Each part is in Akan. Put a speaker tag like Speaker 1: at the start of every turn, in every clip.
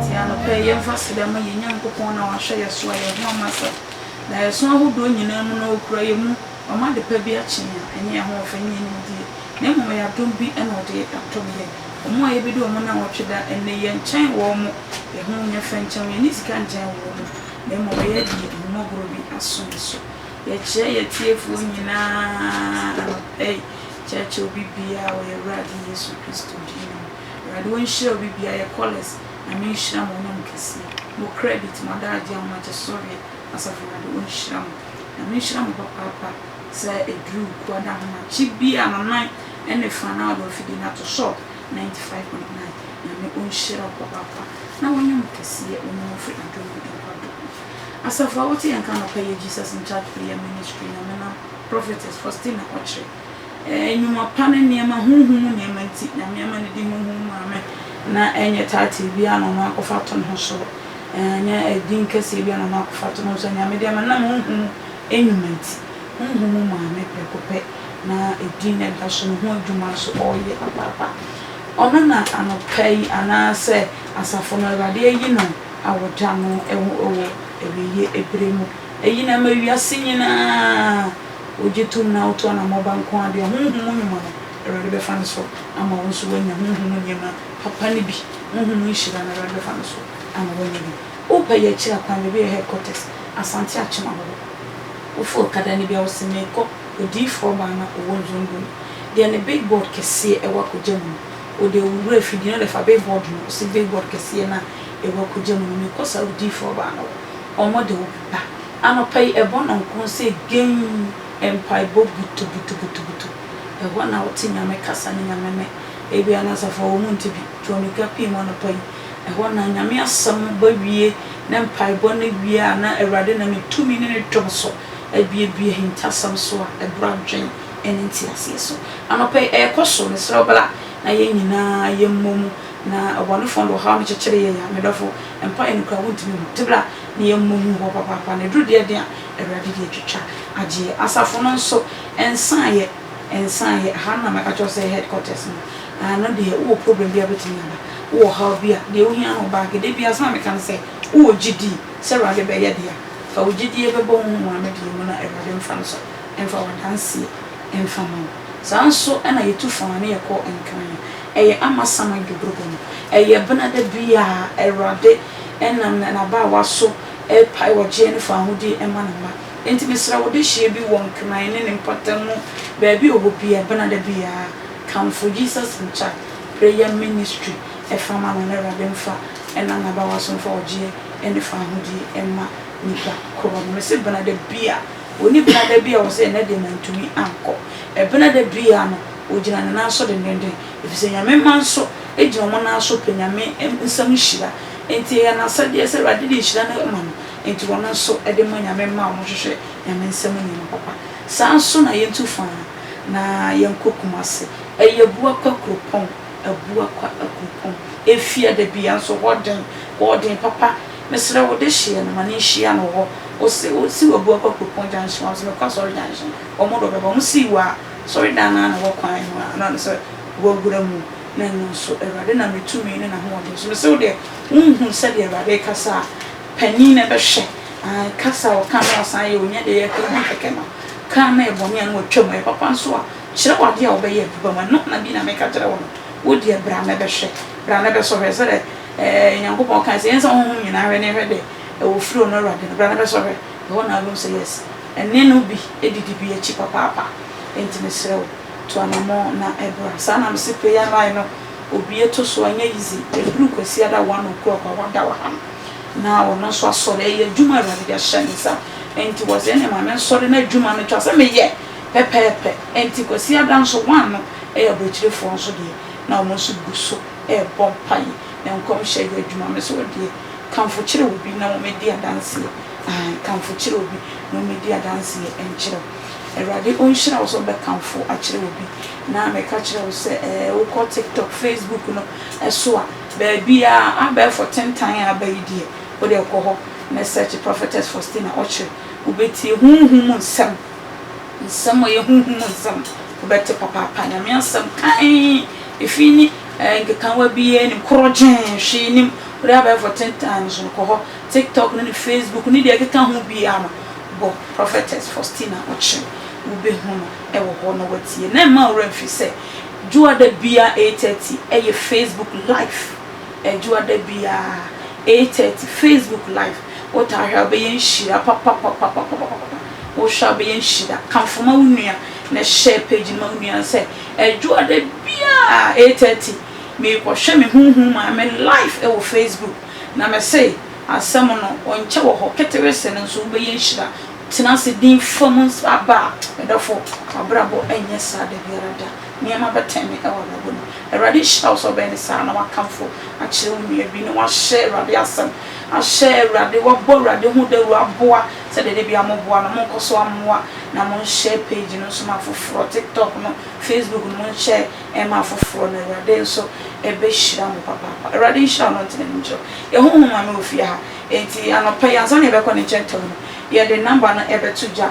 Speaker 1: Enti anɔpa yi, yɛmfa srɛ ma yɛn Nyankopɔn na wahwɛ yɛn so a yɛn ho ama sɛ daeɛso ahodoɔ nyinaa mu no ɔkura yɛn mu. Wɔn adepa bi akyen a, ɛnyɛ yɛn ahoɔfɛ ne yɛn nimdeɛ, na mmom ɛyɛ adom bi na wɔde atom yɛn. Wɔn a yɛbɛdi wɔn nnawɔtwe da nnɛ yi nkyɛn wɔn mo, ɛho nyɛ fɛ nkyɛn wɔn, yɛnni sika nkyɛn wɔn mo, na mmom ɛyɛ deɛ ahummɔborɔ bi aso yɛn so. Yɛkyerɛ yɛn atiefoɔ nyina ara anɔpa yi, kyerɛkyerɛ obi biara wɔ yɛn Awurade Yesu Kristo din mu. Awurade ɔnhyira obi biara, yɛ Collis, Nyame nhyira mo, ɔnyɛ mo kɛseɛ, mo credit, mo adagyeɛ, ahomakyesɔreɛ, Asafo Awurade ɔnhyira mo. Nyame nhyira mo papaapa sɛ ɛduru Kua da ahomakye bi a nanan ne fa na ɔde afidie no ato so 95.9 Nyame ɔnhyira wo papaapa na wanyɛ mo kɛseɛ wo ne wofiri adom mu nkɔ adom mu Asafo a wote yɛn nka anɔpa yi yɛ Jesus in Charge Prayer Ministry Nyame nam Prophetess Faustina Ɔkyere Ɛɛ, nnwuma pa ne nneɛma, honhom mu nneɛma nti, Nyame ama no din honhom mu maame, na ɛnyɛ title biara na ɔno akɔfa ato ne ho so, ɛnyɛ din kɛseɛ biara na ɔno akɔfa ato ne ho so, Nyame de ama no nam honhom mu nnwuma nti, honhom mu maame prɛko pɛ na edin no ɛda so, ne ho adwuma nso ɔreyɛ papaapa. Ɔno na anɔpa yi anaasɛ asafo no Awurade ayi no awoda no wɔ awieeɛ berɛ mu, ayi no ama wiase nyinaa. Wogye tom na woto anammɔn ba nko ara deɛ, honhom mu nnwuma no, Awurade bɛfa no so ama wo nso woanya honhom mu nneɛma papa no bi. Honhom mu nhyira no, Awurade bɛfa no so ama woanya bi. Wopɛ yɛ akyiri akwan, baabi a ɛyɛ headquarters, Asante Akyem ahodoɔ. Wofa okada no bi a, wose merekɔ Odiyifoɔ baa no a ɔwɔ Nzongo no, deɛ ne big board kɛseɛ ɛwɔ Akogya mu no. Wode wo wura afidie no wode fa big board no, wose big board kɛseɛ no a ɛwɔ Akogya mu no, merekɔ saa Odiyifoɔ baa no hɔ. Wɔde wo bɛba. Anɔpa yi ɛbɔ nnɔnkron sɛ genn mpaebɔ butubutubutubutu. Ɛhɔ na wote Nyame kasa ne Nyame nne. Ebia na asafo a wɔn mu nte bi tu ammirika pue mu anɔpa yi. Ɛhɔ na Nyame asɛm ba wie ne mpaebɔ no wie a na Awurade nam ne tumi ne ne dom so abuebue ahintasɛm so a ɛboro adwen ne nteaseɛ so. Anɔpa yi ɛrekɔ so. Mesrɛ wo bra na yɛn nyinaa yɛmmɔ mu na ɔbɔnefoɔ no de ɔhaw no kyekyere yɛn a, me dɔfo, mpaeɛ no koraa wontumi nhu nti bra. na yɛmmɔ hu hɔ papaapa, na ɛduru deɛ den a, Awurade de atwitwa agyeɛ. Asafo no nso, ɛnsaeɛ, ɛnsaeɛ. Ɛha no na mɛka kyerɛ wo sɛ ɛyɛ headquarters no. Ɛno deɛ, wowɔ problem bi a wobɛtumi aba, wowɔ ɔhaw bi a, deɛ wohia ne wo baage. Da biara, sɛdeɛ meka no sɛ, wowɔ gyedie sɛ Awurade bɛyɛ deɛ a, fa wo gyedie bɛbɔ wo ho wɔ ano deɛ mu na Awurade mfa no so mfa w'adanseɛ mfa mma wo. Saa ara nso na yɛtu fã na yɛkɔ Nkran. Ɛyɛ Amasaman Dwoborobɔ no. Ɛyɛ bena da biara, Awurade. nam na n'abaawa so repae ɔgyeɛ no faahodi ma ne mma. Enti mesrɛ wo dehyeɛ bi wɔ nkran ne ne mpɔtam mu baabi a ɔwɔ biara, bena da biara kamfo Jesus in Chat Prayer Ministry fa ma no na Awurade mfa nam n'abaawa so mfa ɔgyeɛ ne faahodi mma nipa korɔ no. Mese bena da biara, ɔnni bena da bi a ɔwɔ sɛ ɛnnɛ deɛ mantumi ankɔ. Ɛbena da biara no ɔgyina ne nan so dendenden Efisɛ Nyame mma nso gyina wɔn nan so pɛ Nyame nsam nhyira, enti ɛyɛ n'asɛdeɛ sɛ Awurade de nhyira no ma no, enti wɔn nso de ma Nyame mma a wɔhwehwɛ Nyame nsam nneɛma papa. Saa ara nso na yɛntu fã, na yɛnkɔ Kumasi. Ɛyɛ Abuakwa kuropɔn, Abuakwa kuropɔn. Efia da bi, nanso hɔ den, hɔ den papa. Mesrɛ wo, dehyeɛ no, ma no nhyia no hɔ. Wose, wosiw Abuakwa kuropɔn junction a, wose mekɔ Asɔre junction, wɔn de wɔbɛba. Wɔsii wo a, Asɔredan no ara na wɔ kwan ho a na sɛ wɔawura mu, na ɛno nso Awurade nam ne tumi ne n'ahoɔden so. Mise wo deɛ, wonhuu sɛdeɛ Awurade rekasa a, panin na ɛbɛhwɛ, aane, kasa a ɔka na wasan ayɛ, ɔnya deɛ ɛyɛ kra na kɛkɛ no, kaa na ɛyɛ bɔne a na watwa mu, ɛyɛ papa nso a, kyerɛ wɔ adeɛ a wobɛyɛ aduba mu, ɛno na bi na meka kyerɛ wo no, wo deɛ bra na ɛbɛhwɛ, bra na ɛbɛsɔ hwɛ, sɛdeɛ ɛɛ Nyankopɔn kae sɛ, yɛnsa honhom nyina hwɛ ne yɛhwɛ deɛ ɛwɔ firi ɔno Awurade no, bra na ɛbɛsɔ hwɛ. Ɛhɔ na Aaron sɛ yes. Ɛnne no bi didi bi akyi papaapa. Enti mesrɛ wo, tu anammɔn na bra. Saa na mese prayer line no obue to so, ɛnyɛ easy. Ɛduru Kwasiada one o'clock a, wada wɔ ha no. Na ɔno nso asɔre. Ɛyɛ adwuma a Awurade de ahyɛ ne nsa. Enti ɔse ɛneɛ ma mensɔre na adwuma no twa sɛ meyɛ pɛpɛɛpɛ. Enti Kwasiada nso one no yɛ abrɔkyirefoɔ nso deɛ na wɔn nso gu so rebɔ mpaeɛ. ne nkɔmhyɛ yɛ adwuma. Me nso wo deɛ, kamfo kyerɛ obi na wɔmmɛdi adanseɛ. Aane, kamfo kyerɛ obi na wɔmmɛdi adanseɛ nkyerɛ wo. Awurade ɔnhyira wo sɛ wobɛkamfo akyerɛ obi. Na meka kyerɛ wo sɛ ɛɛ wokɔ TikTok, Facebook no so a, baabiara abɛɛfo tentan a aba yi deɛ, wo deɛ kɔ hɔ na search Prophetess Faustina Okyere, wobɛtie honhom mu nsɛm. nsɛm a ɛyɛ honhom mu nsɛm, wobɛte papaapa Nyame asɛm kann, efi ne eh, nkekawa biara nim, korɔgyen, hwee nim, wode abɛɛfo ten times no kɔ hɔ, tiktok no ne facebook ne deɛ ɛkeka ho biara no, bɔ prophetess Faustina Okyem, wobɛhu no ɛwɔ hɔ na watie, na ɛma wura mfi sɛ, dwoada biara 8:30 ɛyɛ facebook live. Adwoa da biara eight thirty Facebook live wotaa hwɛ a wobɛyɛ nhyira papapapapapapa wohwɛ a wobɛyɛ nhyira kamfo ma wo nua na share page no ma wo nua no sɛ Adwoa da biara eight thirty merekɔhwɛ me honhom maame live wɔ Facebook na mese asɛm no ɔnkyɛ wɔ hɔ ketewe se no nso wobɛyɛ nhyira tena ase din fam aba a medɔfo wabrabɔ ɛnyɛ saa da biara da. nneɛma bɛtɛn me wɔ abrabɔ mu. Awurade nhyira wo sɛ wobɛyɛ no saa na woakamfo akyerɛ wo nua bi na woahyɛ Awurade asɛm, ahyɛ Awurade, woabɔ Awurade ho dawuro aboa sɛdeɛ da biara moboa no. Monkɔ so mmoa na monhyɛ page no nso ma afoforɔ, TikTok no, Facebook no, monhyɛ mma afoforɔ na Awurade nso bɛhyira mo papaapa. Awurade nhyira wo na ɔntene ne nkyerɛ wo. Yɛho ho maame wɔ fie ha, enti anɔpa yi ansa na yɛbɛkɔ ne nkyɛn tɛwɛ no, yɛde number no bɛto dwa.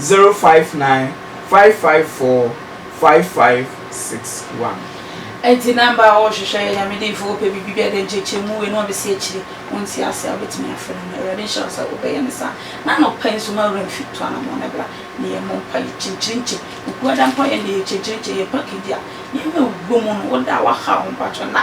Speaker 2: zero five nine
Speaker 1: five five four five five six one. Enti na mba a wɔwɔ hwehwɛ yɛ Nyame dimfo, wɔpɛ biribi bi a dɛ nkyerɛkyerɛmu wei na wɔbɛsi akyire, wɔnte ase a wobɛtumi afrɛ no, na Awurade nhyira wo sɛ wobɛyɛ no saa. Na anɔpa yi nso ma wura mfi to anamɔn na bra na yɛmmɔ mpa, yɛ kyenkyerenkye, Okuada mpo a yɛn deɛ yɛ kyenkyerenkye, yɛ package a, nneɛma a ɛwɔ mu no, wo da a woahaw ho mpakyɛw na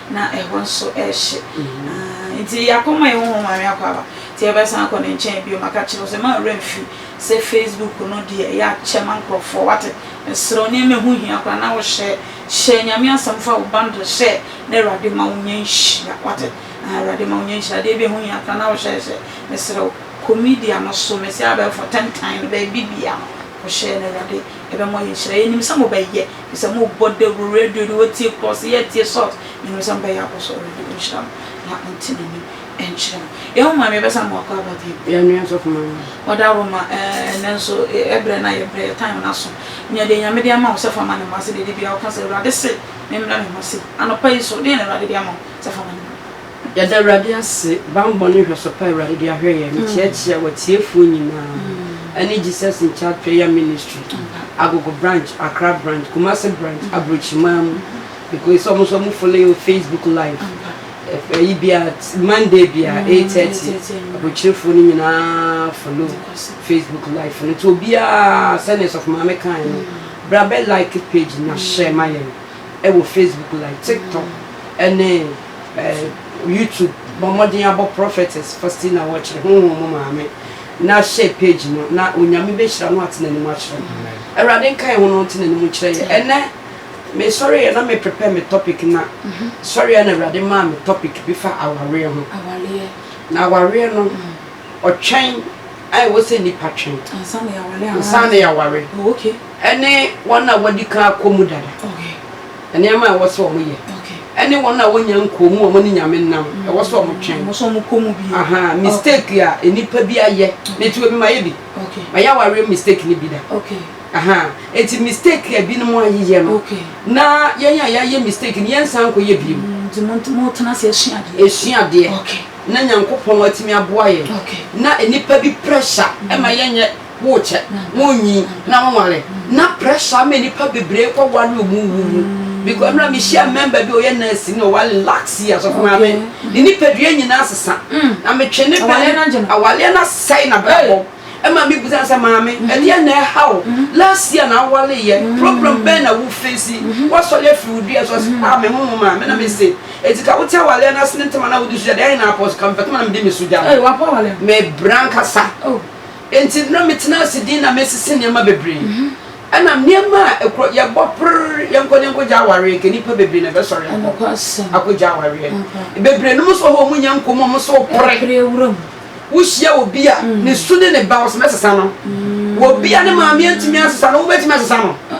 Speaker 1: na ɛhɔ nso ɛrehye nti yɛakɔma yɛn ho hɔ Maame Akwaaba nti yɛbɛsan akɔ ne nkyɛn bio maka kyerɛ wo sɛ ma werɛ mfi sɛ Facebook no deɛ ɛyɛ akyɛ ma nkurɔfoɔ wate mesrɛ wo nneɛma ɛho hia koraa na wohyɛ hyɛ Nyame asɛm fa wo bundle hyɛ na Awurade ma wo nyɛ nhyira wate Awurade ma wo nyɛ nhyira adeɛ bi ɛho hia koraa na wohyɛ hyɛ mesrɛ wo kɔ media no so mesi abɛɛfo tentan no baabi bia no Wɔhyɛɛ no, Awurade, yɛbɛ mɔ yɛ nhyira. Yɛ nim sɛ mo bɛ yɛ, fi sɛ mo bɔ dawuro, radio de, wɔ tie krɔse, yɛ tie salt. Yɛ nim sɛ mo bɛ yɛ abɔ so, Awurade, wɔ nhyira mo, na wɔ nte na ni nkyerɛ mo. Yɛ ho maame, yɛbɛ san mo akɔ aba bio. Yɛ nua sɔfo maame.
Speaker 3: Wɔ da woro ma,
Speaker 1: eh, nɛ nso, yɛ brɛ na yɛ brɛ, yɛ time na so. Nya deɛ Nyame de ama wo, sɛ fa ma ne mma, sɛ deɛ de bia wo ka sɛ, Awurade se me mmrɛ me ho ase. Anɔpa yi nso, deɛ na Awurade de ama wo, sɛ fa ma ne mma. Yɛda Awurade
Speaker 3: ase, bammɔ ne nhwɛso pa a Awurade de ahwɛ yɛn, mekyerɛkyerɛ wɔ atiefoɔ nyinaa ɛne Jesus in Charge Prayer Ministry, Agogo Branch, Accra Branch, Kumasi Branch, Abrokyimaa mu, mekɔ sɛ ɔmo nso ɔmo follow yɛ wɔ Facebook live, ɛf ɛyi bia, Monday bia, 8:30, Abrokyirifoɔ no nyinaa follow Facebook live no, nti obiara sɛdeɛ Sɔfo Maame kaeɛ no, bra bɛ like page no na hyɛ ma yɛn. wɔ Facebook like TikTok ne YouTube bɔ mmɔden abɔ Prophetess Faustina Wɔkyere Honhom mu Maame na share page no na Onyame bɛhyira no ate n'anim akyerɛ no. Awurade nka yɛn ho na ɔnte n'anim nkyerɛ yɛn. Ɛnɛ mesɔre yɛ na me prepare me topic na mhm. sɔre yɛ na Awurade maa me topic bi fa awareɛ ho. Na awareɛ no ɔtwɛn a ɛwɔ sɛ nipa twɛn. Ansa na yɛaware. Oh, okay. ɛne
Speaker 1: wɔn
Speaker 3: a wɔadi kan akɔ mu dada,
Speaker 1: nneɛma a ɛwɔ
Speaker 3: sɛ wɔn yɛ, ɛne wɔn a wɔnya nkɔɔ mu a wɔn ne nyame nam, ɛwɔ sɛ wɔn twɛn, aha,
Speaker 1: mistake a
Speaker 3: nnipa bi ayɛ, ne ti obi ma yɛ bi, ma yɛ awareɛ
Speaker 1: mistake
Speaker 3: ne bi da, aha,
Speaker 1: eti
Speaker 3: mistake a ebinom ayeyɛ no, na
Speaker 1: yɛn a
Speaker 3: yɛayɛ mistake no yɛn nsan nkɔ yɛ bi mu,
Speaker 1: esua adeɛ,
Speaker 3: na
Speaker 1: nyankopɔn
Speaker 3: atumi aboa yɛn, na nnipa
Speaker 1: bi
Speaker 3: pressure ɛma yɛnyɛ. worekyɛ, wonnyin na wonware na pressure ama nnipa bebree kɔ ware wɔn mu wu mu. Because mmerɛ a mehyia member bi a ɔyɛ nurse na ɔware last year sɔfo maame, ne nipadua nyinaa sesa. Na metwe ne bɛn awaleɛ no asɛe n'abrabɔ. Ɛma me bisa no sɛ maame ɛdeɛn na ɛha wo? Last year na awareeɛ, problem bɛn na wo face? Woasɔre afiri wo dua so? Ɔse ah me ho nwoma me na mese enti ka wote awaleɛ no ase ne ntɛm a na wode so gya deɛ ɛhe na apɔ so? Ka mepɛ kama na mede me so gya no. Mebra ankasa. Enti na metena ase dinn na mesese nneɛma bebree. Ɛnna nneɛma a ɛkorɔ, yɛbɔ pere, yɛnkɔ na yɛnkɔgya awareɛ, anka nnipa bebree na ɛbɛsɔre akɔ akɔgya awareɛ. Bebree no nso hɔ a wɔnnya nkɔm a wɔn nso repere. Wohyia obi a ne su ne ne ba, wɔsɛ mɛsesa no. Obi a ne maame antumi ansesa no, wobɛtumi asesa no?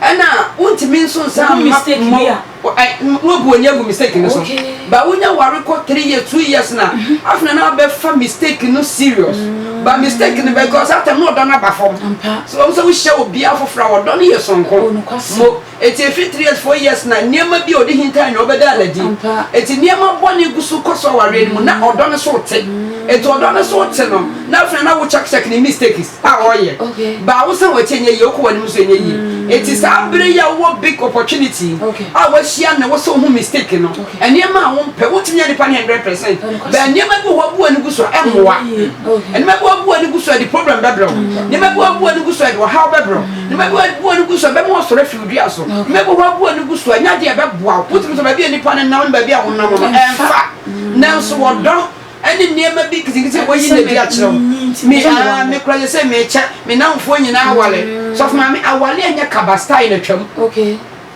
Speaker 3: Ɛna wontumi nso nsa mma
Speaker 1: mma wobu
Speaker 3: ani agu mistake no so ba wonya ware kɔ three years two years na afei na na abɛfa mistake no serious ba mistake no bɛkɔ sɛ atam na ɔdɔ no aba fam so wɔn sɛ wohyɛ obi afoforɔ a ɔdɔ no yɛ sonko mo eti efi three years four years na nneɛma bi a ɔde hinta anwa ɔbɛda anadi eti nneɛma bɔ ne gu so kɔ so awareɛ no mu na ɔdɔ no so te eti ɔdɔ no so te no na afei na wo check check ne mistakes. a wɔyɛ baa wo sɛ wɔn akyi nyɛ yie wokɔ wɔn anim nso nyɛ yie eti saa bere yi a wowɔ big opportunity a wahyia na wosɛ wohu mistake no nneɛma a wompɛ wontumi nyɛ nipa ne hundred percent bɛn nneɛma bi wɔ hɔ abu ani gu so a ɛmmoa nneɛma bi wɔ abu ani gu so a ɛde problem bɛbrɛ wo nneɛma bi wɔ abu ani gu so a ɛde ɔhaw bɛbrɛ wo nneɛma bi wɔ abu ani gu so a ɛbɛma wɔsɔre afi wo dua so nneɛma bi wɔ hɔ abu ani gu so a nya deɛ ɛbɛboa wo wotumi sɛ baabi a nipa no nam ne baabi a wonam no ɛmfa nanso wɔdɔ Ɛne nneɛma bi nketenkete a wɔayi no adi akyerɛ wo. Me aa me kura yɛ sɛ mekyɛ me nnamfoɔ nyinaa aware. Sɔfo maame aware ɛnyɛ kaba style na twam.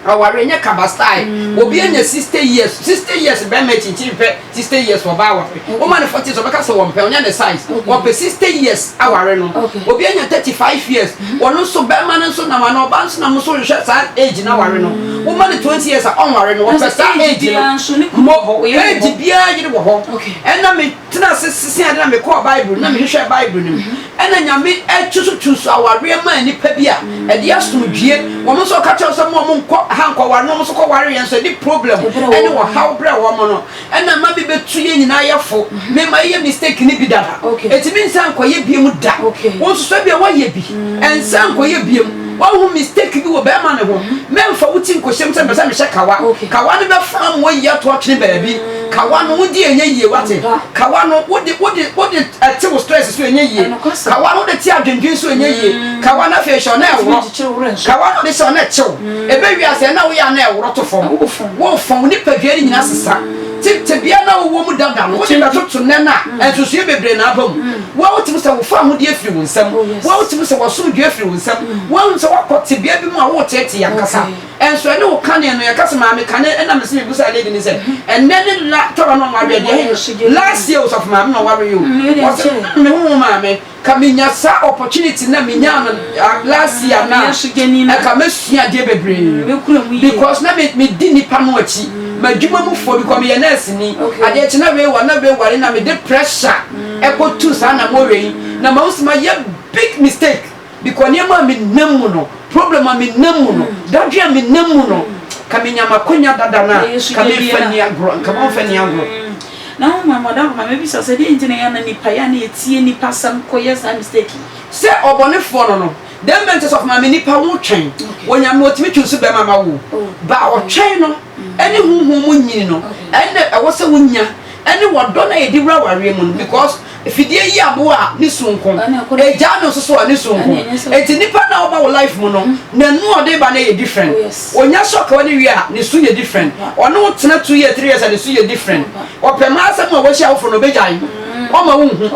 Speaker 3: Aware ɛnyɛ kaba style. Obi anya sixty years sixty years bɛrima akyi nti mpɛ sixty years ɔbaa aware. Woma no forty years ɔbɛka sɛ ɔmpɛ ɔnyɛ ne size. Ɔpɛ sixty years aware no. Obi anya thirty five years. Wɔno nso bɛrima no nso nam anaa ɔbaa no nso nam nso nhwɛ saa age na ware no woma no twenty years a ɔnware no wɔpɛ saa age no mmɔ age biara yere wɔ hɔ ɛna me tena ase sese ade na me kɔɔ bible na me hwehwɛ bible no mu ɛna nyame ɛtusu tusu awareɛ maa nipa bi a ɛde asom dwie wɔn nso ɔka kyɛw sɛ mo a mo nkɔ ha nkɔ ware no wɔn nso kɔ ware yɛn nso ɛde problem ɛne wɔhaw brɛ wɔn no ɛna ɛma me bɛtu yɛn nyinaa yɛfo mema yɛyɛ mistake no bi dada ɛtumi nsan nkɔyɛ biam da wonsusua bia woayɛ bi ɛnsan nkɔyɛ biam woahu mistake bi wɔ bɛrima ne ho mɛmfa wo ti nkɔhyɛm sɛ mpɛ sɛ mehyɛ kawa kawa no bɛfa ma wayi ato atwene baabi kawa no wodi ɛnyɛ yie wate kawa no wode wode wode ɛte wo stress so ɛnyɛ yie kawa no wode te adwendwen so ɛnyɛ yie kawa no afei hyɛ ɔna ɛworɔ kawa no wode hyɛ ɔna ɛkyew Ɛbɛ wie a sɛ na woyɛ a na ɛworo to fam. Wo fa wo nipadua no nyinaa sesa. Te tebea no a wowɔ mu dada no, wode bɛtoto nnɛ no a nsusuiɛ bebree na aba mu. Woahu te mu sɛ wofa ahodeɛ firi wo nsam. Woahu te mu sɛ w'asomdwoeɛ firi wo nsam. Woahu sɛ woakɔ tebea bi mu a woreteetee ankasa. Nso ɛne wo kane no, yɛka sɛ maame kane ɛna mese mebusaa lady no sɛ ɛnnɛ ne la tawa na ɔnwareɛ deɛ ɛhe no? Last year osɔfo maame na ɔwareeɛ o. Ɔse, mm, mehu wo maame. Ka menya saa opportunity na menyaa no last year no a ɛka mɛsua adeɛ bebree because na medi nipa no akyi madwuma mu foɔ because meyɛ nurse ni adeɛ kye na wei wa na wei ware na mede pressure ɛkɔ tu saa na mo wei na ma wosi ma yɛ big mistake because nneɛma a menam mu no problem a menam mu no dadwe a menam mu no ka menya makonya dada no a ka mefa ni agorɔ nka mɔmfa ni agorɔ na hom mma
Speaker 1: ɔda hɔ ma mebisa sɛ dɛn ntsi na yɛana nyimpa yɛ a na yetsie nyimpa asɛm kɔyɛ saa mistake yi? Sɛ ɔbɔnefoɔ
Speaker 3: no no, dɛn bɛ nti sɛ ɔfo ma me nipa wo twɛn wɔ Nyame hɔ tumi twi so bɛma ma wo ba a ɔtwɛn no ɛne honhom mu nyini no ɛnna ɛwɔ sɛ wo nya ɛne wɔdɔ no a ɛdi wura awareɛ mu no because Fidie yi aboa a ne sonko, agyaa no nso so a ne sonko. Enti nnipa no a wɔba wo life mu no, n'anu a ɔde ba no yɛ different. Ɔnya shock a ɔde wie a, ne su yɛ different. Ɔne wo tena two years, three years a, ne su yɛ different. Ɔpɛ ma asɛm a wahyia wo for no, ɔbɛgyae. Ɔma wo nhu.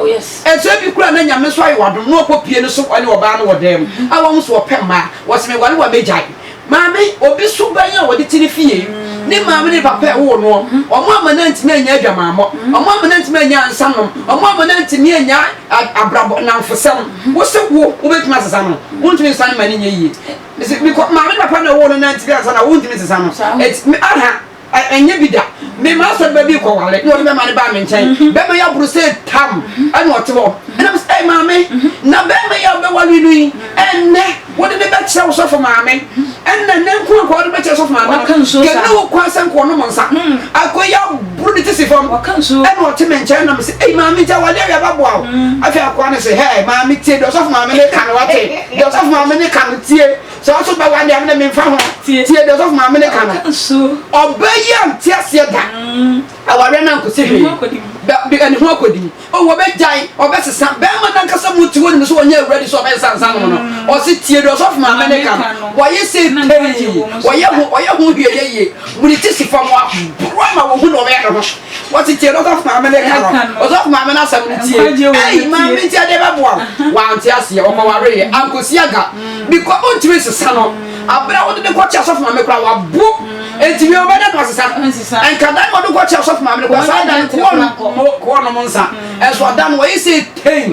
Speaker 3: Ɛso ebi koraa na Nyame nso ayɛ wo adom na wakɔ pie no so ɔne ɔbaa no wɔ dan mu. A wahu sɛ ɔpɛ mmaa. Wɔ se meware wo a, mɛgyae. Maame, Obi so bɛn a wɔde te ne fie? Ne maame ne ne papa a ɛwoo noɔ. Wɔn amma no antumi annya adwamammɔ. Wɔn amma no antumi annya nsanom. Wɔn amma no antumi annya abrabɔ nnamfosɛm. Wo se wo, wobɛtumi asesa no? Wontumi nsesa no ma no nyɛ yie. Mese, Because maame ne papa na ɛwoo no no antumi ansa no a, wontumi nsesa no. Enti, me, aha. Ɛnyɛ bi da. Me maa sɛ bɛ bi kɔ wale na ɔde bɛ ma ne baa me nkyɛn. Bɛ ma ya buru sɛ tam ɛna ɔte hɔ. Ɛna me sɛ ɛy maame na bɛ ma ya bɛ wale no yi ɛnɛ wode ne bɛ kyerɛ wo sɔfo maame. Ɛna nɛ nko akɔ ɔde bɛ kyerɛ sɔfo maame no. Kɛnɛ wo kɔ asɛ nko ɔnom nsa. Akɔ ya buru ne ti si fam ɛna ɔte me nkyɛn ɛna me sɛ ɛy maame nti awale awia bɛ boa wo. Afei akɔ ne sɛ hɛɛ maame tie deɛ ɔsɔfo maame ne ka no wate. Deɛ ɔsɔfo maame ne ka no tie. Sɛ wo nso bɛware a, me de memfa ho. Tie deɛ ɔsɔfo maame no ka no. Ɔbaa yi ante aseɛ da. Awareɛ no ankɔsi hwee. Ɛne ho akɔdim. O wɔbɛgyae, wɔbɛsesa. Barima no ankasa mu te hɔ nim sɛ ɔnyɛ awuradi sɛ ɔbɛsesa nsa nom no. Ɔse tie deɛ ɔsɔfo maame no ka no. Wɔayɛ sei pɛi. Wɔyɛ ho hwee ɛyɛ yie. Wɔde ti si fam a, borɔ ama wɔhu deɛ wɔbɛyɛ ne ho. Wɔtetee no Ɔsɔfo Maame no ka no. Ɔsɔfo Maame no asɛm no tie. Ei, Maame nti ɛdeɛ bɛboa wo. Wante aseɛ, ɔkɔwareeɛ, ankɔsi aga. Because wontumi nsesa no. Aberɛ a wode no kɔkyɛ Asɔfo Maame koraa wabo. Enti wiɛ wobɛda no asesa no? Ɛnka da no wɔde kɔkyɛ Ɔsɔfo Maame no koraa saa da no koɔ no koɔ nom nsa. Ɛnso ɔda no wɔyi sei tein.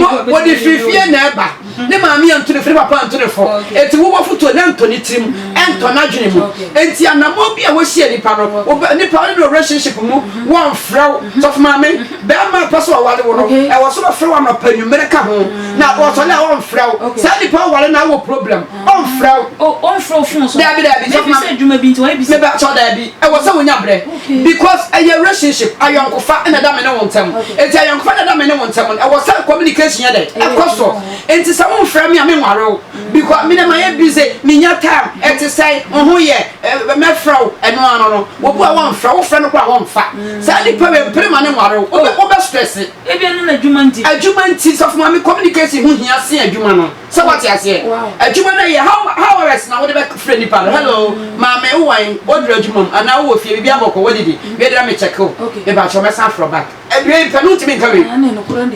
Speaker 3: Mo,
Speaker 1: wɔde firi fie
Speaker 3: na ɛba. Ne maame antu ne fo, ne papa antu ne fo. Enti wo bɔfotuo no ntɔ ne tirim, ɛntɔ n'adwene mu. Enti anammɔn bi a wohyia nipa no, wo bɛ, nipa a wone no wɔ relationship mu, wɔmfrɛ wo. Sɔfo Maame, barima a ɔpɛ sɛ ɔware wo no, ɛwɔ sɛ ɔfrɛ wo anɔpa, anwummere ka ho. Na ɔsɔre a, ɔmfrɛ wo. Saa nipa a woware no ara wɔ problem, ɔmfrɛ wo. Oh, ɔmfrɛ wo phone so?
Speaker 1: Daabi, daabi, Sɔfo Maame. Maybe sɛ adwuma
Speaker 3: bi nti, wayɛ busy. Meba,
Speaker 1: sɔ, daabi. Ɛwɔ
Speaker 3: sɛ wonya berɛ. Because ɛyɛ relationship, ayɔnkofa na ɛda me ne wo ntam. Enti ayɔnkofa na ɛda me ne wo ntam no, ɛwɔ sɛ communication yɛ dɛn? Ɛkɔ so. Enti sɛ womfrɛ me a, menware wo. Because me na mayɛ busy, mennya time, ɛte sɛn, wo ho yɛ, eh, mɛfrɛ wo, ɛno ara no no. Wɔbu a wɔmfrɛ, wofrɛ no koraa a wɔmfa. Saa nipa wei, mpere ma no nware wo. Wobɛ, wobɛ stress. Ebia na n'adwuma
Speaker 1: nti. Adwuma nti, Sɔfo Maame, communication
Speaker 3: ho hia sen adwuma no. Sɛ wate aseɛ? Adwuma no yɛ how how hours na wode bɛfrɛ nipa no hello maame wo wan woduru adwuma mu anaa wowɔ fie biribi abɔkɔ wadidi wei dera me check wo mepakyɛ mɛsan afrɛ back wei pɛ no wontumi nka wei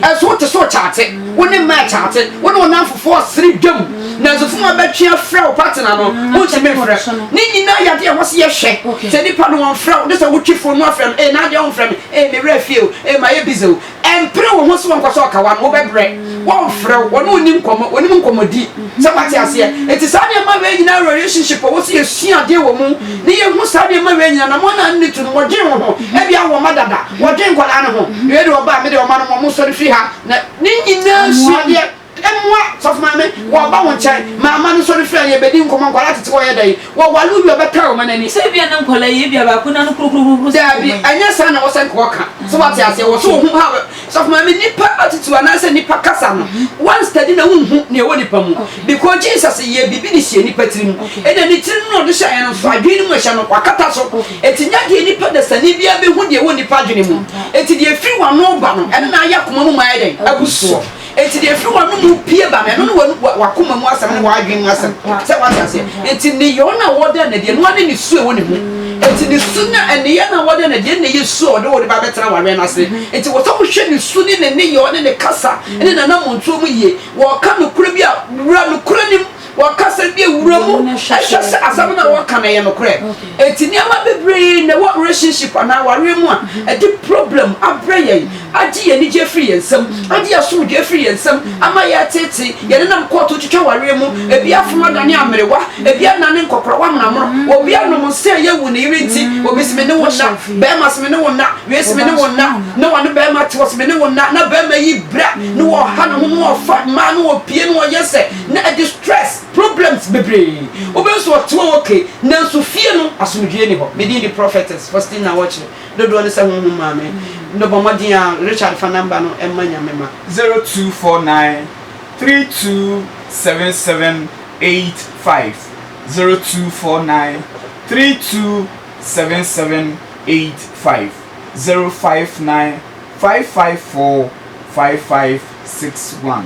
Speaker 3: ɛso wote so kyate wo ne mmaa kyate wo ne ɔnamfofoɔ ɔsere dwam nanso funu abɛtwe afrɛ wo partner no wontumi mfrɛ ne nyinaa yɛde ɛhɔ se yɛhwɛ sɛ nipa no wɔmfrɛ wo de sɛ wotwe fo no afrɛ no ee na adeɛ womfrɛ me ee mewerɛ fie o ee ma yɛ bize o Ɛmpere wo ho sɛ wɔnkɔ sɛ ɔka w'ano, wobɛbrɛ, wɔmfrɛ wo, wɔne wo nni nkɔmmɔ, wɔnim nkɔmmɔdie. Sɛ moate aseɛ? Enti saa nneɛma wei nyinaa relationship a wɔsi yɛsua adeɛ wɔ mu ne yɛhu saa nneɛma wei nyinaa na mo anaa nne to no wɔdwen wo ho. Ebia wowɔ mma dada, wɔdwen nkwadaa no ho. Wei deɛ ɔbaa, me deɛ ɔma no mo, mosɔre firi ha na ne nyinaa suadeɛ. Mmoa, sɔfo maame, wɔreba wo nkyɛn. Mama no sɔre firi a, yɛrebɛdi nkɔmmɔ. Nkwadaa tete hɔ yɛ dɛ yi. Wɔware wo wie a, wɔbɛpɛ wo ma no ani. Sɛ ebia na nkwadaa yi,
Speaker 1: ebia baako n'ano kurukurukurukuruku sen wɔn yi. Dabi, ɛnyɛ saa
Speaker 3: na wɔsɛ nka wɔka. So woate aseɛ? Wɔso wo ho ha. Sɔfo maame, nnipa attitude anaasɛ nnipa kasa no, woanstadi na wonhu nea ɛwɔ nnipa mu. Because Jesus yɛɛ biribi de hyɛɛ nnipa tiri mu. Ɛnna ne tiri no na ɔde hyɛeɛ no nso, adwene no mu ɛhyɛ no, wakata so. Enti nyɛ deɛ nnipa dasani biara bɛhu deɛ ɛwɔ nnipa adwene mu. Enti deɛ ɛfiri w'ano reba no, ɛno na ayɛ akoma mu ma ayɛ dɛn? Abu soɔ. Enti deɛ ɛfiri w'ano mu pue ba no, ɛno ne w'ano, w'akoma mu asɛm ne w'adwene mu asɛm. Sɛ wate aseɛ? Enti nneyɔɔ no a wɔda no adiɛ no, ɛno ne ne su a ɛwɔ ne mu. Enti ne su no a, nneyɛɛ no a wɔda no adiɛ no na ɛyɛ su a ɔde wo de ba bɛtena w'awɛn ase. Enti wɔ sɛ wohwɛ ne su ne ne nneyɔɔ ne ne kasa ne n'anammɔntuo mu yie. Wɔɔka nokorɛ bi a, wura nokorɛ no mu. Wɔka sɛ ebia wura mu hwɛ sɛ asɛm no a wɔka no yɛ nokorɛ. Enti nneɛma bebree na ɛwɔ relationship anaa awareɛ mu a ɛde problem abrɛ yɛn, agye yɛn anigyeɛ afiri yɛn nsam, agye yɛn asomdwoeɛ afiri yɛn nsam, ama yɛreteetee, yɛnenam kɔɔto twitwa awareɛ mu, ebi afono adane amerewa, ebi adane nkɔkorawa monamono, obi anom nsa a ɛyɛ wu ne yere nti, obi se me ne wo nna, barima se me ne wo nna, wei se me ne wo nna, na ɔne barima te hɔ se me ne wo nna, na barima yi bra na ɔha ne ho na ɔfa mmaa na ɔpie na ɔyɛ sɛ. Na ɛde stress, problems bebree. Wobɛhu sɛ ɔte hɔ okay, nanso fie no asomdwoeɛ nni hɔ. Me din de Prophetess Faustina Wɔkyerɛ. Dodoɔ no sɛ honhom maa me no bɔ mmɔden a Richard fa number no mma Nyame ma. Zero two four nine three two
Speaker 2: seven seven eight five zero two four nine three two seven seven eight five zero five nine five five four five five six one.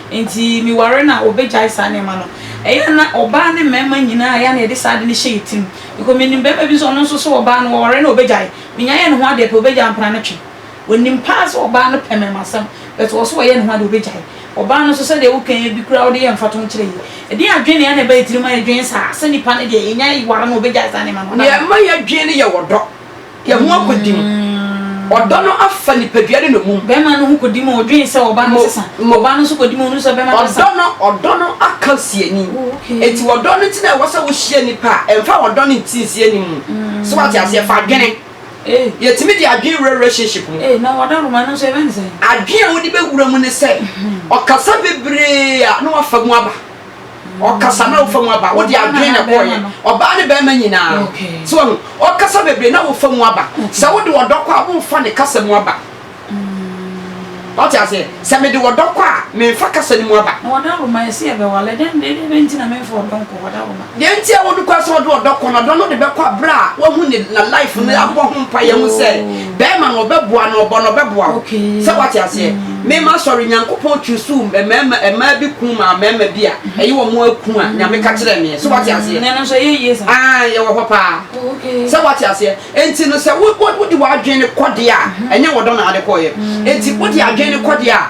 Speaker 1: Enti meware no a, wɔbɛgyae saa nneɛma no. Ɛyɛ a na ɔbaa ne mmarima nyinaa, ɛyɛ a na yɛde saa ade no hyɛ yɛn tirim. Because menim barima bi nso, ɔno nso so ɔbaa no, wɔware no a, ɔbɛgyae. Menya yɛ ne ho adeɛ pɛ, ɔbɛgyae ampa ara no twe. Ɔnim pa ara sɛ ɔbaa no pɛ mmarimasɛm, but ɔso ɔyɛ ne ho adeɛ, ɔbɛgyae. Ɔbaa no nso, sɛdeɛ wokan yi bi koraa wode yɛ mfatoho kyerɛ yi. Ɛdeɛn adwene na na ɛba yɛn tirim ma yɛdwene saa, sɛ nipa no deɛ, yɛnya ware no a, ɔbɛgyae saa nneɛma no, ɔda no. Nea ɛma yɛdwene no yɛ
Speaker 3: ɔdɔ. yɛn ho akodi mu. Ɔdɔ no afa nipadua ne nnommum. Bɛma no ho kodi mu,
Speaker 1: odwen sɛ ɔba no sesa. Ɔba no nso kodi mu, onu sɛ bɛma no sesa. Ɔdɔ no, ɔdɔ no
Speaker 3: aka siani. Enti ɔdɔ no nti na ɛwɔ sɛ wohyia nnipa a ɛmfa ɔdɔ no nti nsiani mu. So wate aseɛ? Fa adwene. Yɛtumi de adwene wura relationship mu. Ee, na ɔdɔ roma no nso
Speaker 1: yɛbɛ no sɛn? Adwene a wode bɛwura
Speaker 3: mu ne sɛ, ɔkasa bebree a na wafa mu aba. ɔkasa na wofa mu aba wode adwene na ɛkɔɔyɛ ɔbaa ne bɛrima nyinaa so wahu ɔkasa bebree na wofa mu aba sɛ wode ɔdɔ kɔ a womfa ne kasa mu aba wate aseɛ sɛ mede ɔdɔ kɔ a memfa kasa no mu aba
Speaker 1: deɛ nti a wode kɔ sɛ
Speaker 3: ɔde ɔdɔ kɔ no ɔdɔ no de bɛkɔ aberɛ a wahu ne na life no abɔ ho mpa yɛ ho sɛ Bɛɛma no ɔbɛboa no ɔbɔ no ɔbɛboa wo sɛ wate aseɛ me ma sɔre nyankopɔn kyusu mɛɛma ɛmaa bi kun maa mɛɛma bi a ɛyi wɔ mo akun a nyame ka kyerɛ meɛ sɛ wate aseɛ nɛɛno nso ɛyɛ yie sa
Speaker 1: aa yɛwɔ hɔ paa
Speaker 3: sɛ wate aseɛ enti no sɛ wo wo de w'adwene kɔdeɛ a ɛnyɛ wɔdɔ na ade kɔɔyɛ enti wo de adwene kɔdeɛ a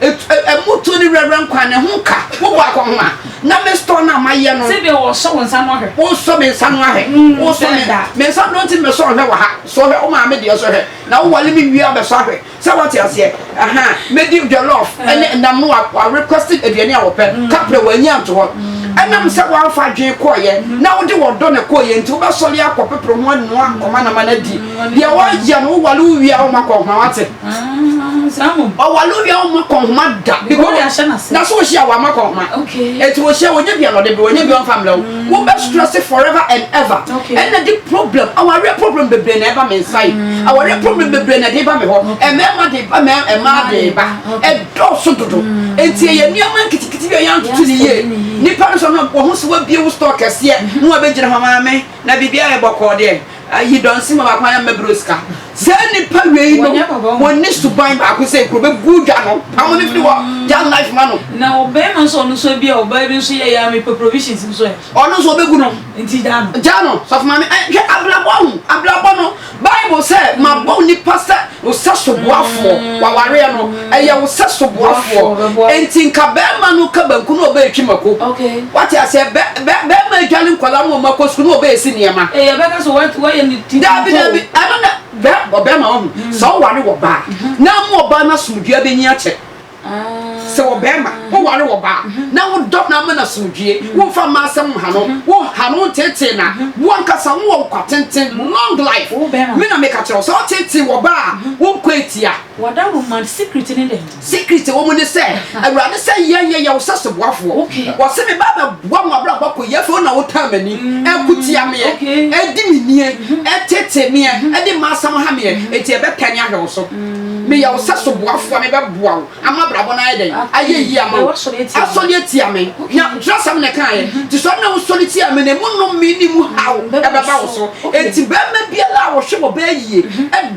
Speaker 3: Ɛmutuo ne werɛwerɛ nkwa ne ho ka wo bɔ akɔ ho a na me store no a mayɛ no. Sɛdeɛ wɔsɔ wo nsa
Speaker 1: no ahwɛ. Wosɔ me nsa no ahwɛ.
Speaker 3: Mm, wosɔ me nsa. Me nsa no nti mesɔ ahwɛ wɔ ha. Sɔ hwɛ wo maame deɛ sɔ hwɛ. Na wowale me wie abɛsɔ ahwɛ. Sɛ wate aseɛ. Aha. Mɛdi jollof ɛne eh. nam no wa request aduane a wɔpɛ. Mm. Kaprɛ wɔanyi anto hɔ. Mm. Ɛnam sɛ wɔamfa adwene kɔɔyɛ mm. na wode wɔdɔ na kɔɔyɛ nti wobɛsɔre akɔ pepere ho anoa nkɔma nama no adi. Deɛ wɔayɛ no wowale wo wie a womakɔ ho a wate.
Speaker 1: ɔwale obi a
Speaker 3: ɔma kɔ nhoma da na so ɔhyia wɔ ama kɔ nhoma ɛti ɔhyia wɔnyɛ
Speaker 1: bia na
Speaker 3: ɔde berɛ wɔnyɛ bia ɔmfa mmerɛ wo wobɛ stress forever and ever ɛna de problem awareɛ problem bebree na ɛba me nsa yi awareɛ problem bebree na ɛde ba me hɔ ɛmɛɛma de ba ɛmaa de ba ɛdɔɔso dodo ɛti ɛyɛ nneɛma nketekete bi a yɛantoto ne yie nipa no sɛ no wɔho sɛ wabie wo store kɛseɛ na wabɛgyina hɔ maame na biribiara ɛbɔkɔɔ deɛ Ayi dɔnsi ma baako ayɛ mmɛbrɛ osika. Saa nnipa wei no, wɔnni suban baako sɛ kuro bɛgu dwa no, pamo no firi hɔ, gya life ma no. Na ɔbarima nso
Speaker 1: ɔno nso ebi a ɔbaa bi nso yɛ yɛ a mepɛ provisions nso ɛ. Ɔno nso ɔbɛgu no.
Speaker 3: Nti gya no. Gya no,
Speaker 1: sɔfo maame, ɛ
Speaker 3: hwɛ abrabɔ ho, abrabɔ no, Bible sɛ mabɔ nnipa sɛ. Wo sɛ soboafoɔ, wawareɛ no, ɛyɛ wo sɛ soboafoɔ, ɛnti nka bɛɛma no ka banku na ɔbɛɛtwi mako, wate aseɛ,
Speaker 1: bɛ,
Speaker 3: bɛ, bɛɛma adwale nkwadaa ma ɔmo akɔ sukuu na ɔbɛɛsi nneɛma. Ee, ɔbɛka sɛ wate,
Speaker 1: wayɛ ne ti Daabi, kuntoo.
Speaker 3: daabi, ɛno na, bɛ, ɔbɛɛma wahu, sɛ ɔware ɔbaa, na ama ɔbaa no asomdwoe abɛnyin akyɛ. sɛ wɔ bɛrima woware wɔ baa na wodɔ no ama no asomdwie womfa mma asɛm mha no woha no wonteetee na woankasa wowɔ nkwa tenten long life me na meka kyerɛ wo sɛ woteetee wɔ baa wonkɔ atia wɔda roman
Speaker 1: secret ne dɛn secret wɔ mu ne sɛ
Speaker 3: awurade sɛ yɛnyɛ yɛ wo sɛ soboafoɔ wɔse me ba bɛboa mo abrabɔ kɔ yɛ afei wo na wotaa m'ani ɛkotia meɛ ɛdi me nie ɛteetee meɛ ɛde mma asɛm ha meɛ ɛti ɛbɛtɛne ahwɛ wo so Meyɛ wo sɛso boafo a mebɛboa wo ama abrabɔ no ayɛ dɛn? Ayɛ yie ama wo. Asɔre atia me. Na twerɛsɛm na ɛkaeɛ. Nti sɔre na wosɔre tia me no, emu nnome ne mu haw bɛba wo so. Enti barima biara a wɔhwɛ wɔ baa yie,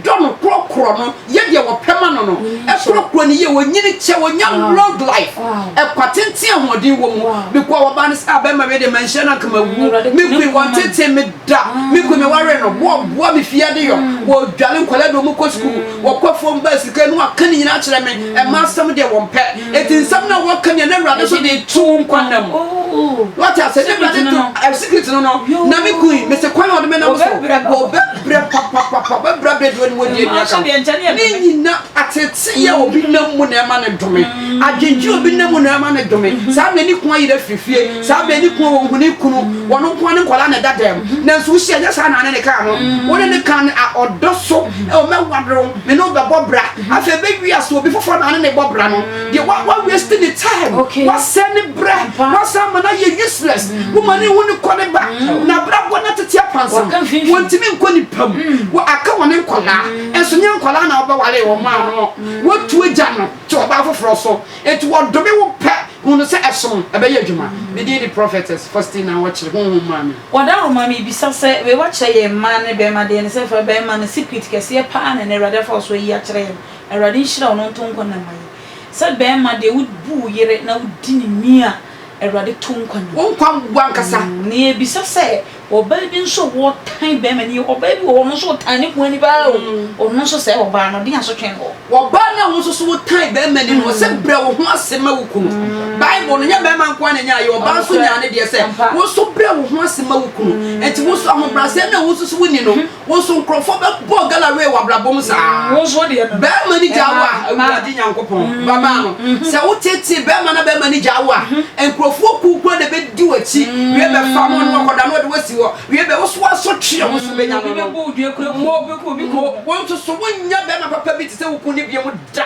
Speaker 3: dɔ no, korɔkorɔ no, yɛ deɛ wɔpɛ ma no no, korɔkorɔ no yie, ɔnyini kyɛ, ɔnya long life, ɛkwa tenten a ahoɔden wɔ mu. Mekɔ a wɔbaa no sɛ, ah, barima wei deɛ manhyira no anka mawu. Me koe, wɔntetee me. Da, me kunu me ware no, boɔ boa me fie adeyɔ, wɔdwale nkwadaa de wɔn kɔ sukuu, wɔkɔ fam ba sika no aka ne nyinaa kyerɛ me, ɛma asɛm deɛ wɔn pɛ, eti nsɛm no a wɔka nea na awurade so de to wo nkwa nna mu. Wate ase, na awurade to secret no no, na me kun yi, mese kwan a ɔde me nam so, wɔbɛbrɛ papapapa, wɔbɛbrɛ abrɛ deɛ ɔne wɔdi nnua ka ho. Ne nyina ateteyɛ a obi nam mu na ɛma no dome, adwendwene a obi nam mu na ɛma no dome, saa na ne kunu ayera firi fie. Saa bɛn ne kunu wɔn ho ne kunu wɔn nko ne nkwadaa na ɛda dɛm nanso wosi ɛnyɛ saa na ne ne kaa no wo ne ne kaa no a ɔdɔ so ɛwɔ mɛwadoro me ne ɔbɛbɔ bra afei ɛbɛwi ase obi foforɔ na ne ne bɔ bra no deɛ wa wa waste ne time wasɛ ne brɛ wasan ama no ayɛ useless wo ma ne wo ne kɔ ne ba na abrabɔ na tete apansam wɔntumi nkɔ ne pam wɔ aka wɔ ne nkwadaa ɛnso nyɛ nkwadaa na wɔbɛwale wɔn a no wɔtu agya no te ɔbaa foforɔ so Enti wɔdome wo pɛ, hu no sɛ ɛsom, ɛbɛyɛ adwuma. Me din de Prophetess Faustina Wɔkyere, Honhom Maame. Wɔda wo ma mebisa
Speaker 1: sɛ, wei wɔakyerɛ yɛn mmaa ne bɛɛma deɛ ne sɛ fa bɛɛma no secret kɛseɛ paa na ɛnɛ Awurade afa wo so ayi akyerɛ yɛn. Awurade nhyira wo na ɔnto nkwa nna mma yɛn. Sɛ bɛɛma deɛ wo bu wo yere na wo di ne ni a Awurade to nkwa nna mu. Wo nkwa mboa ankasa.
Speaker 3: Na yɛbisa sɛ,
Speaker 1: Ɔbaa bi nso wɔ tan bɛrima ni o. Ɔbaa bi wɔ hɔ, ɔno nso ɔtan ne kunu ni paa o. Ɔno nso sɛɛ ɔbaa no, ɔde asotwe no. Ɔbaa no a wo nso
Speaker 3: so wotan bɛrima ni no, ɔse brɛ wo ho ase ma wo kunu. Bible no, nyɛ bɛrima nko ara na nyaayɛ, ɔbaa nso nyaa ne deɛ sɛ, wo nso brɛ wo ho ase ma wo kunu. Enti wo nso ahobrɛaseɛ no a wo nso so woni no, Wo nso nkurɔfoɔ bɛbɔ gala wei w'abrabɔ mu saa. Mm, wo nso deɛ no. Bɛrima
Speaker 1: ni gya wo a,
Speaker 3: awurade nyankopɔn mm-hmm. baba no. Mm-hmm. Sɛ wo tete bɛrima na bɛrima ni gya wo a, mm-hmm. nkurɔfoɔ kuw kura na bɛdi w'akyi. Wie bɛ fa mo no akɔda no ɔde wasi hɔ. Wie bɛ woso aso tweɛ wo so bɛnya no no.
Speaker 1: Mo, mo, wo nso so wonyɛ
Speaker 3: bɛrima papa bi te sɛ wo kun ne bia mu da.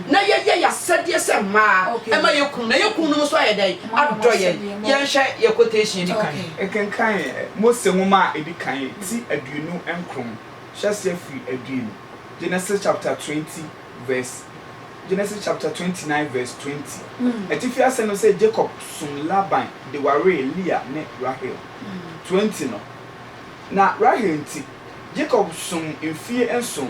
Speaker 3: na yɛyɛ yɛn asɛdeɛ sɛ mmaa ma yɛn kununom, na yɛn kununom nso ayɛ dɛn? Adɔ yɛn. Yɛnhwɛ yɛn quotation a ɛdi kan. Kenkan
Speaker 2: Mose Nwoma a Ɛdi Kan ti aduonu nkron, hyɛ aseɛ firi aduonu, Genesis chapter twenty verse Genesis chapter twenty nine verse twenty. Atifi asɛm no sɛ Jacob somm Laban de waree Lea ne Rahel. Twenty no, Na Rahel nti, Jacob somm mfeɛ nson.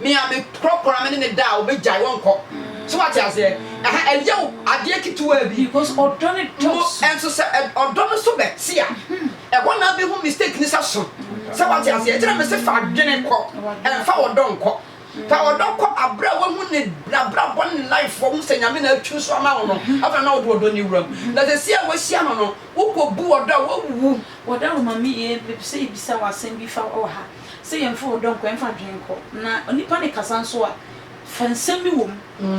Speaker 3: Me a me prɔprɔ me ne no da a ɔbɛgyae ɔnkɔ so wate aseɛ ɛha ɛyɛ wo adeɛ ketewaa bi because ɔdɔ ne
Speaker 1: dɔɔso mo nso sɛ ɔdɔ
Speaker 3: no so bɛte a ɛhɔ na abɛhu mistake ne sɛ so sɛ wate aseɛ ɛkyerɛ me se fa adwene kɔ ɛmfa ɔdɔ nkɔ fa ɔdɔ kɔ aberɛ a wahu ne nabrabɔ ne life wahu sɛ nyame na atwi so ama wo no afei na wode ɔdɔ ne wuram na sɛ si a wahyia no no wokɔ bu ɔdɔ a wawu wɔda roma me yɛ
Speaker 1: mepɛ sɛ yɛbisa wɔ asɛm bi fa wɔ ha Sɛ yɛmfa ɔdɔ nkɔ, yɛmfa adwene nkɔ, na onipa no rekasa nso a, fa nsɛm bi wom.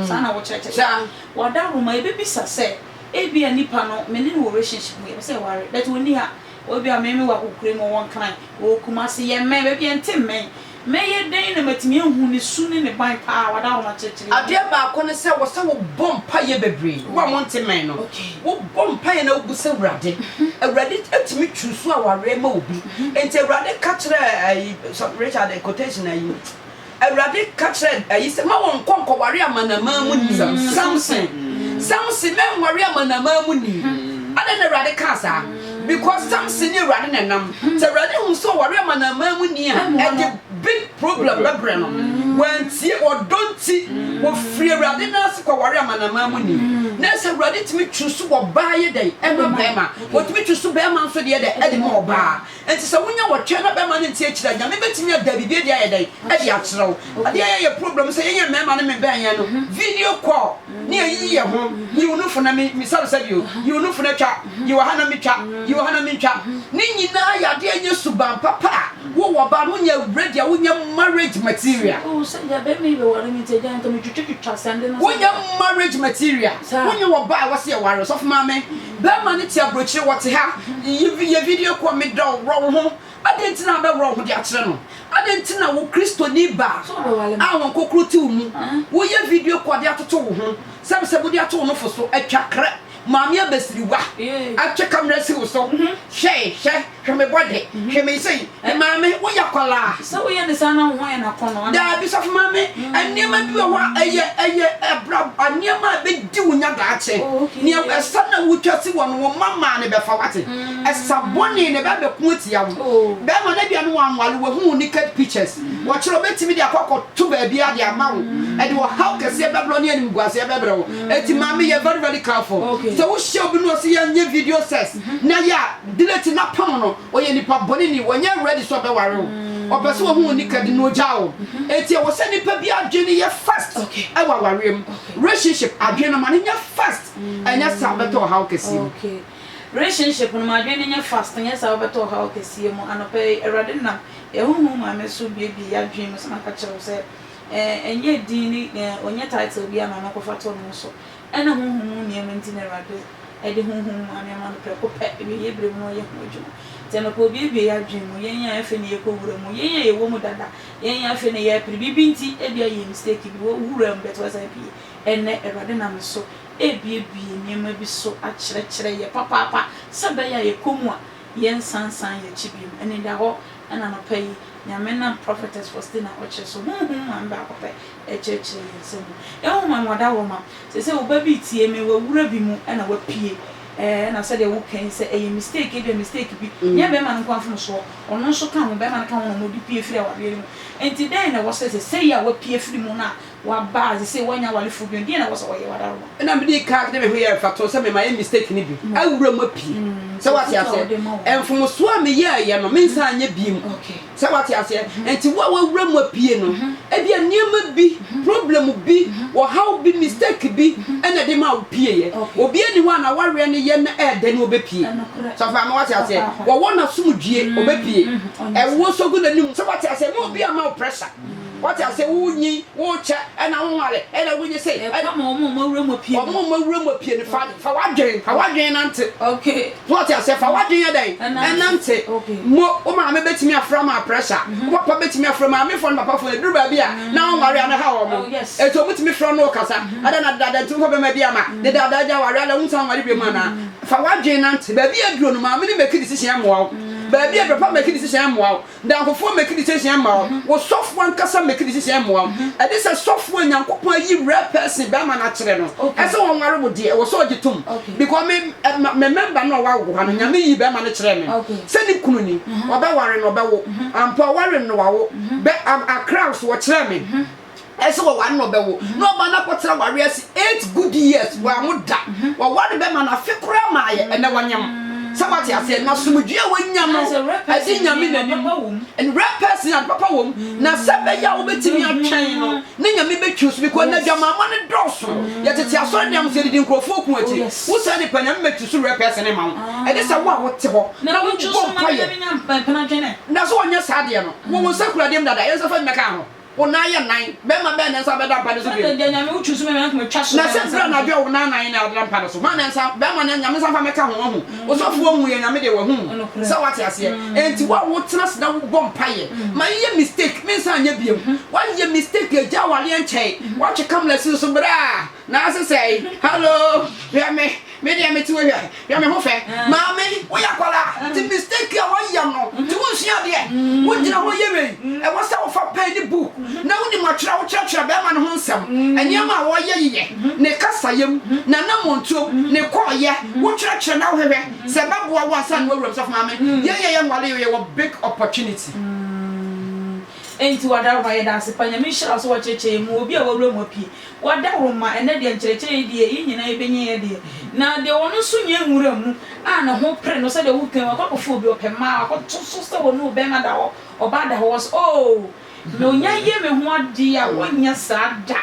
Speaker 1: Saa na wokyerɛkyerɛ. Wɔ adahoro mu a, yɛbɛbisa sɛ, Ebia nipa no, me ne no wɔ relationship mu, yɛpɛ sɛ yɛware, but ɔnni ha. Ebia me ne no wɔ akɔkoram mu, ɔwɔ Nkran, ɔwɔ Kumasi, yɛmmɛn, baabi a yɛnte mmɛn. Mɛyɛ dɛn na matumi ahu ne su ne ne ban pa ara? Wɔ adahoro mu akyerɛkyerɛ yɛ. Adeɛ baako ne sɛ,
Speaker 3: wɔ sɛ wobɔ mpaeɛ bebree. Wo a monte mmɛn no, wobɔ mpaeɛ na wobu sɛ, Awurade, Awurade tumi choose awareɛ ma obi. Enti Awurade ka kyerɛɛ ayi, sɔ, Richard quotation ayi, Awurade ka kyerɛɛ ayi sɛ, Ma wɔnkɔ nkɔware amanaman mu ni, Samson, Samson, ma ɛnware amanaman mu ni. Adɛn na Awurade kaa saa? Because Samson ne Awurade na ɛnam. Sɛ Awurade hu sɛ ɔware amanaman mu ni a, ɛde big problem bɛbrɛ no. Wantie, ɔdɔ nti, ɔfiri Awurade nan ase kɔware amanaman mu ni. Na ɛsɛ sɛ Awurade tumi choose ɔbaa yɛ dɛn? Ɛma barima. Wɔtumi tu so bɛɛma nso deɛ dɛ ɛde ma ɔbaa. Nti sɛ wonya wɔtwɛ na bɛɛma no nte akyire a, Nyame bɛtumi ada biribi adi ayɛ dɛn? Ɛde akyerɛ wo. Adeɛ a ɛyɛ yɛ problem sɛ yɛnyɛ mɛɛma no mebɛn yɛn no video call ne ayiyi yɛ ho, yi wo nufo na me sare sɛdeɛ o, yi wo nufo na twa, yi wɔ ha na me twa, yi wɔ ha na me ntwa. Ne nyinaa yɛ adeɛ a ɛnyɛ suban papa a wo wɔ ɔbaa no wonyɛ ready a wonyɛ marriage material. Wohu sɛ deɛ bɛɛma
Speaker 1: yi bɛware me nti agya nka me twitwa twitwa sɛnde no sɛnde. Wonyɛ marriage
Speaker 3: material, wonyɛ ɔbaa a ɛwɔ sɛ yɛware, ɔsɔfo maame. Bɛrima no te aburokyire, wɔte ha. Yɛ video kɔ Me dɔ wo, worɔ wo ho. Adɛn nti na wobɛworɔ wo ho de akyerɛ no? Adɛn nti na wo Kristoni baa a Honhokro te wo mu, woyɛ video kɔ de atoto wo ho? Sɛbe sɛ mode ato wo nofo so, atwa krɛ, Maame abasiriwa atwe kamera asi wo so. Hwɛ, hwɛ. Hwɛ me bɔde, hwɛ me sei. Eh, maame, woyɛ akwadaa. Sɛ woyɛ ne saa na
Speaker 1: wo ho yɛ no akɔnnɔ. Daabi, sɔfo maame,
Speaker 3: nneɛma bi wɔ hɔ a ɛyɛ ɛyɛ ɛbra nneɛma a ɛbɛdi wo nya daakye. Nea ɛsa na wotwa si wɔ no, wo mma mmaa no bɛfa wate. Ɛsa bɔne na ɛbɛ bɛko atia wo. Bɛrima no ebia no wanwale, wahu wo naked pictures. Wɔkyerɛ ɔbɛtumi de akɔ akɔto baabiara de ama wo. Ɛde ɔhaw kɛseɛ bɛbrɛ wo ne animguaseɛ bɛbrɛ wo. Enti maame yɛ very very careful. Sɛ wohyia obi na ɔse yɛnyɛ video sex. Na ya deneti na pam no ɔyɛ nipa bɔneni wɔnyɛ ready sɛ ɔbɛware wo ɔpɛ sɛ ɔhu wo nika de na ɔgya wo enti ɛwɔ sɛ nipa bi adwene yɛ fast ɛwɔ awareɛ mu relationship adwene no ma no nyɛ fast ɛnyɛ saa wobɛtɔ ɔhaw kɛseɛ mu. Okay
Speaker 1: relationship no ma adwene no nyɛ fast ɛnyɛ saa wobɛtɔ ɔhaw kɛseɛ mu anɔpa yi awurade nam yɛ honhom maame so buebue yadwene mu sɛ maka kyerɛ wo sɛ ɛɛ ɛnyɛ din ne ɛɛ ɔnyɛ title biara na ɔno akɔfa to ne ho so Ɛna honhom mu nneɛma nti na Awurade de honhom mu anneɛ ma no prɛko pɛ, awieeɛ berɛ mu na ɔyɛ ho adwuma. Nti anɔpa obi abue y'adwene mu, yɛn a afei na yɛkɔwura mu, yɛn a yɛwɔ mu dada, yɛn a afei na yɛpere, biribi nti, ebia yɛyɛ mistake bi, wo wuraa mu but woasan apue. Ɛnnɛ Awurade nam me so ɛrebuebue nneɛma bi so akyerɛkyerɛ yɛ papaapa sɛ ɛbɛyɛ a yɛkɔ mu a yɛnsan nsan yɛn akyi bio. Anidahɔ na anɔpa yi Nyame nam Prophetess Faustina Okyere so, honhom mu ame baako pɛ, kyerɛkyerɛ yɛn nsɛm mu. Ehu ma wɔda hɔ ma. Seesei wo ba bi retie me, wawura bi mu na wapue. Ɛɛ, ɛna sɛdeɛ woka yi sɛ ɛyɛ mistake, ebia mistake bi nyɛ barima no nko ara mfomsoɔ, ɔno nso ka ho, barima no ka ho na wɔde pue firi awareɛ no mu. Enti dɛn na ɛwɔ sɛ seesei a wapue afiri mu no a waba a seesei wannya awarefoɔ bio no, deɛn na ɛwɔ sɛ ɔyɛ? Wadaroma. Ɛna mede ka de me
Speaker 3: ho yɛ mfatoho sɛ me mayɛ mistake no bi, awura mu apue. Sɛ woate aseɛ? Mfomsoɔ a meyɛeɛ no, mensan nyɛ bio. Sɛ wate
Speaker 1: aseɛ?
Speaker 3: Nti wo a wawura mu apue no, ebi a nneɛma bi, problem bi, ɔhaw bi, mistake bi ɛna de ma wo pieɛ. Obi ani hɔ a na wareɛ no yɛ na ɛɛdɛ no ɔbɛpue. Sɔfo ama wate aseɛ? Wɔwɔ no asomdwie ɔbɛpue. Ɛwoɔ nso gu n'anim. Sɛ wate aseɛ? Ma obi amma wo pressure. Wate aseɛ? Wo nyin, wo kyɛ, ɛna wo nware, ɛna wo nyɛ sei. Ɛka ma wɔn a wɔawura
Speaker 1: mu apue no. Wɔn a wɔawura mu apue no,
Speaker 3: fa w'adwene, fa w'adwene nante. So ɔte aseɛ?
Speaker 1: Fa w'adwene
Speaker 3: yɛ dɛn? Ɛnante. Mo, wo maame bɛtumi afra ma pressure. Wo papa bɛtumi afra. Maamefoɔ ne papafoɔ, ɛduru baabi a, na wɔnware a, na ɛha wɔn. Enti wɔtumi frɛ wo ne wo kasa. Adɛn na dedaada nti wofa bɛrima bi ama? Dedaada agya, waware adɛn? Wonsan nware bio mu anaa? Fa w'adwene nante. Baabi a aduro no, maame no make decision mmoa wo. Baabi a aduro, papa make decision mmoa wo. Damfofoɔ make decision ma wo, wo sɔfoɔ ankasa make decision mmoa wo. Ɛde sɛ sɔfoɔ a Nyankopɔn ayi rare person bɛrima no akyerɛ no ɛsɛ ɔnware wo deɛ ɛwɔ sɛ ɔgye tom because me me member no a ɔwawo ha no Nyame yii bɛrima no kyerɛɛ me sɛ ne kunu ni, ɔbɛware no ɔbɛwo ampa ɔware no wawo bɛ Accra nso wɔkyerɛɛ me. ɛsɛ wɔware na ɔbɛwo na ɔma no akɔtena ware ase eight good years wɔanwo da wɔware bɛma no afe koraa ma ayɛ ɛnɛ wanyam sɛ wate aseɛ na somdwe a wanya no ɛde nyame n'anim and real person ade papa wɔ mu na sɛ bɛyɛ a wobɛtumi atwɛn no ne nyame bɛtwiw so because na adwamaama no dɔɔso yɛtete asɔre nneɛm sɛ yɛdedi nkurɔfoɔ ku akyi wo saa nipa nyame bɛtwiw so real person ne ma wo ɛne sɛ wo a wote hɔ na wobɔ mpayɛ
Speaker 1: na sɛ wɔnyɛ saa deɛ
Speaker 3: no wɔwɔ nsa kura deɛ m dada yɛnsa fa mmɛka ho Wo nan yɛ nan. Bɛrima bɛn na nsa bɛda mpa no so bio? Satan de anyame wo tu so mɛmɛ ankum
Speaker 1: atwa so. Na sɛ bere anadwo a wo nan
Speaker 3: nan na ɛda mpa no so, hwan na nsa, bɛrima na nyame nsa mfa mɛka ho wahu. Osɔfo onhu yɛ nyame deɛ wahu mu sɛ wate aseɛ. Enti wo a wo tena ase na wo bɔ mpaeɛ ma yɛ yɛ mistake me nsa nyɛ biom. Wa yɛ mistake agya awareɛ nkyɛe. Wa twe camera si wo so bra na ase sɛe. Hello hwɛ me. Me deɛ mete wɔ hwɛ hwɛ me ho fɛ maame woyɛ akwadaa nti mistake a woayɛ no nti wonsua adeɛ wogyina hɔ yɛ wei ɛwɔ sɛ wofa pɛn ne book na wonim atwerɛ wokyerɛkyerɛ bɛrima no ho nsɛm nneɛma a wɔyɛ yeyɛ ne kasayɛm n'anammɔntuom ne kɔɔyɛ wokyerɛkyerɛ na wohwehwɛ sɛ bɛboa wo ansa na wawuram sɔfo maame yɛyɛ yɛ nwale yɛ wɔ big opportunity
Speaker 1: Enti wada wo hɔ a yɛda ase pa Nyame nhyira wo sɛ wakyerɛkyerɛ yɛn mu obi a wawura mu apue Wɔda hɔ ma ɛnnɛ deɛ nkyerɛkyerɛ yi deɛ yɛn nyinaa yɛbɛnya yɛ deɛ. Na deɛ ɔno nso nyɛ nwura mu a ne ho pere no sɛdeɛ woka yi wakɔ akɔfa obi ɔpɛ mmaa wakɔto so sɛ ɔne ɔbarima da hɔ ɔbaa da hɔ wɔ sɛ oo me onya yɛ me ho adeɛ a wɔnyɛ saa da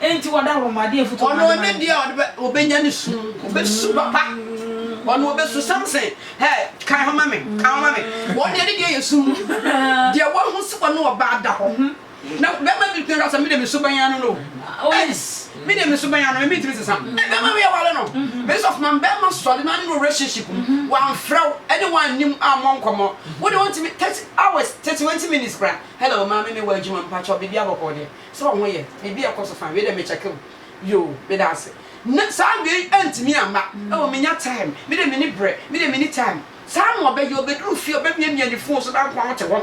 Speaker 1: enti wɔda hɔ ma deɛ mfuturo ɔno ɔne deɛ ɔde bɛ
Speaker 3: ɔbɛnya ne su ɔbɛsu papa ɔno ɔbɛsu samson hɛ kan ho ma me kan ho ma me wɔn deɛ ne deɛ yɛ su deɛ wɔn ho sɛ ɔne ɔbaa da hɔ. Na bɛrima bi tumi ka sɛ, mede me suban ano no o. Ɛs,
Speaker 1: mede me suban ano, me
Speaker 3: mentumi nsesa. Ɛn, bɛrima bi aware no. Mese, ɔfomam, bɛrima sɔre na ne no relationship mu. Wamfrɛ wo, ɛne wo annim, ammɔ nkɔmmɔ. Wo de, wontumi, 30 hours, 31 minutes koraa. Hello, maame, mewɔ adwuma, mpakyɛw, biribiara bɔkɔɔ deɛ? Sɛ wo ho yɛ? Biribiara ɛkɔ so fine. Wei deɛ, mekyɛke wo. Yoo, meda ase. Na saa wei antumi amma. Oh, mennya time. Me deɛ, menni berɛ. Me deɛ, menni time. Saa na ɔbɛyɛ. Ɔbɛduru fie, ɔbɛmiamia ne phone so, na nkoa wote hɔ.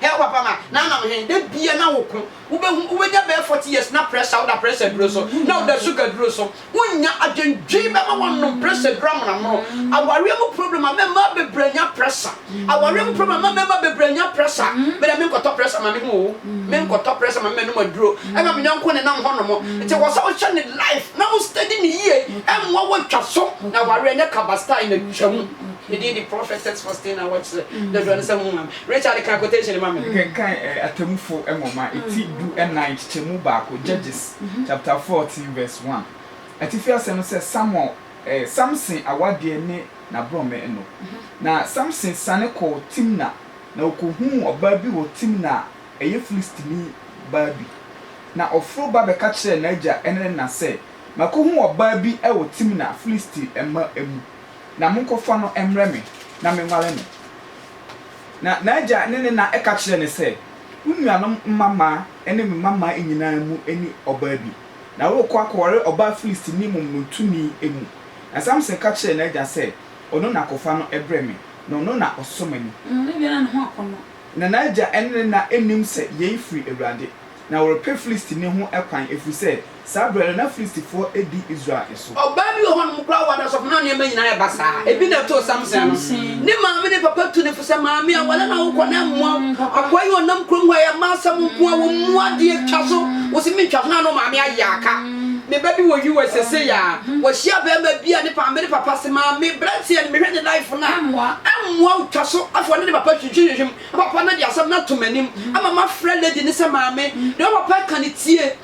Speaker 3: Hɛɛw papa ma na nam he da bia na wo ko wobɛhu wobɛnya bɛyɛ forty years na pressure woda pressure duro so na woda sugar duro so wonnya adwendwen bɛma woanom pressure duro amonoamono awareɛ mu problem ama mmaa bebree anya pressure awareɛ mu problem ama mmarima bebree anya pressure meda menkɔtɔ pressure ma me ho o menkɔtɔ pressure ma me manom aduro ɛma me yɔnko ne nam hɔ nom nti wɔ sɛ wohyɛ ne life na wo steady ne yie ɛmmoa woatwa so na awareɛ nyɛ kaba style na twa mu ne din de prophetess Faustina Wɔkyerɛ dodoɔ ne sɛ mo maame Richard ka quotation no ma me. Kenkan
Speaker 2: Atemmufo Nwoma ti du nnan nkyekyɛmu baako, Judges chapter fourteen verse one. Atifi asɛm no sɛ Samuel ɛɛ Samson awadeɛ ne n'aborɔme no. Na Samson siane kɔɔ Timna na ɔkɔhuu ɔbaa bi wɔ Timna a ɛyɛ Filistini baa bi. Na ɔforo ba bɛka kyerɛɛ n'agya ne ne na sɛ, Makɔhu ɔbaa bi wɔ Timna, Filisti mma mu. Na monkɔfa no mmrɛ me na menware no. Na n'agya ne ne na ka kyerɛɛ no sɛ, Wo nuanom mmammaa ne me mmammaa nyinaa mu ni ɔbaa bi, na worekɔ akɔware ɔbaa Filistini momonotoni mu. Na Samson ka kyerɛɛ n'agya sɛ, Ɔno na kɔfa no brɛ me, na ɔno na ɔsɔ m'ani.
Speaker 1: Na n'agya
Speaker 2: ne ne na nnim sɛ yei firi Awurade, na wɔrepɛ Filistini ho kwan, ɛfiri sɛ Saa berɛ no, na Filistifoɔ di Israel so. Ɔbaa bi wɔ hɔnom koraa
Speaker 3: a ɔwɔ adansɔkɔ na nneɛma nyinaa yɛ basaa. Ebi na ɛtoo Samson no. Ne maame ne papa tu no fo sɛ, Maame, aware na wokɔ na ɛmmoa wo. Akoa yi ɔnam kurom hɔ a, ɛyɛ mma asɛm nko ara, wɔmmu adeɛ twa so. Wo se mentwa so na ne maame ayɛ aka. Me ba bi wɔ US seesei a, wahyia barima bi a ne maame ne papa se, Maame, aberanteɛ no, mehwɛ ne life no a, ɛmmoa wo twa so. Afei ɔne ne papa hwehwimhwehwim. Na papa no de asɛm no ato m'anim ama mafrɛ lady no sɛ, Maame, deɛ wo papa reka no tie.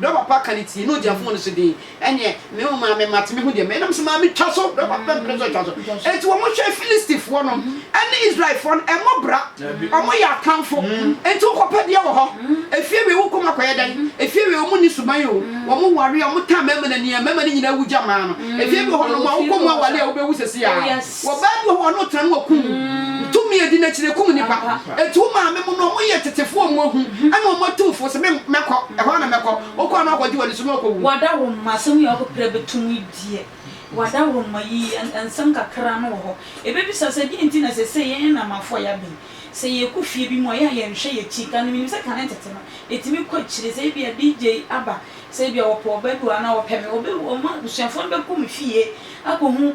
Speaker 3: Berɛ papa ka ne tie ne ɔgya fon no so din ɛneɛ me wo maa me mate me ho deɛ me nam so maa me twa so berɛ papa mpene so twa so enti wɔn hwɛ Filistifoɔ no ɛne Israelfoɔ no ɛmɔ bra wɔn yɛ atamfo enti wo kɔ pɛ deɛ wɔ hɔ efie wei wo kɔ mu akɔyɛ dɛn efie wei wɔn ni suban o wɔn ware a wɔn taa mɛma no ania mɛma no nyina awu gya maa no efie bi wɔ hɔ nom a wo kɔ mu awale a wo bɛ wu sɛsi a. Wɔ baa bi hɔ ɔno tra no wɔ kum tumi edi nakyire kum nipa eti wo maame mo no ɔmo yɛ tetefo ɔmo ahu ɛna ɔmo atu fo se me mɛkɔ ɛhɔ na mɛkɔ ɔkɔ a na wakɔgye wani so na ɔkɔ wu. W'adaworoma asɛm yi a
Speaker 1: ɔkɔ pira bɛtom yi deɛ w'adaworoma yi nsɛm kakra no wɔ hɔ ɛbɛbisa sɛ deɛ nti na sesei yɛn nnamafo a yɛabe yi sɛ yɛkɔ fie bi mu a ɛyɛ a yɛnhwɛ yɛn akyi kane menim sɛ kane tete no ɛtumi kɔ akyire sɛ ebia DJ aba sɛ ebia wɔpɛ ɔbaa bi wɔ ha na wɔpɛ me wɔbɛ wɔn abusuafoɔ no bɛkɔ me fie akɔhu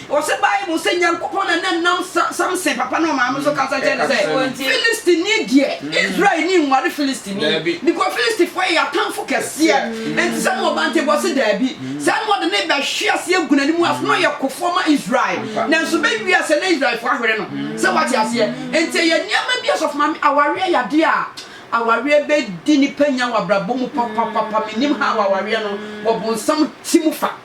Speaker 3: Wɔse Bible se Nyankopɔn na ne nam Samson papa ne ɔmaame so kasa kyerɛ no sɛ, Filistini deɛ, Israel ni nware Filistini, because Filistifoɔ yɛ y'atamfo kɛseɛ, enti sɛ mowɔ ba nti bɔ se daabi. Saa na wɔde no rebɛhwe ase agu n'anim ase, na ɔyɛ kofoɔ ma Israel, nanso bɛwie a sɛ na Israelfoɔ ahwere no, sɛ woate aseɛ. Enti ɛyɛ nneɛma bi Ɔsɔfo Maame, awareɛ yɛ adeɛ a awareɛ bɛdi nipa nya wɔ abrabɔ mu papapapa, mennim how awareɛ no wɔ bonsam ti mu fa.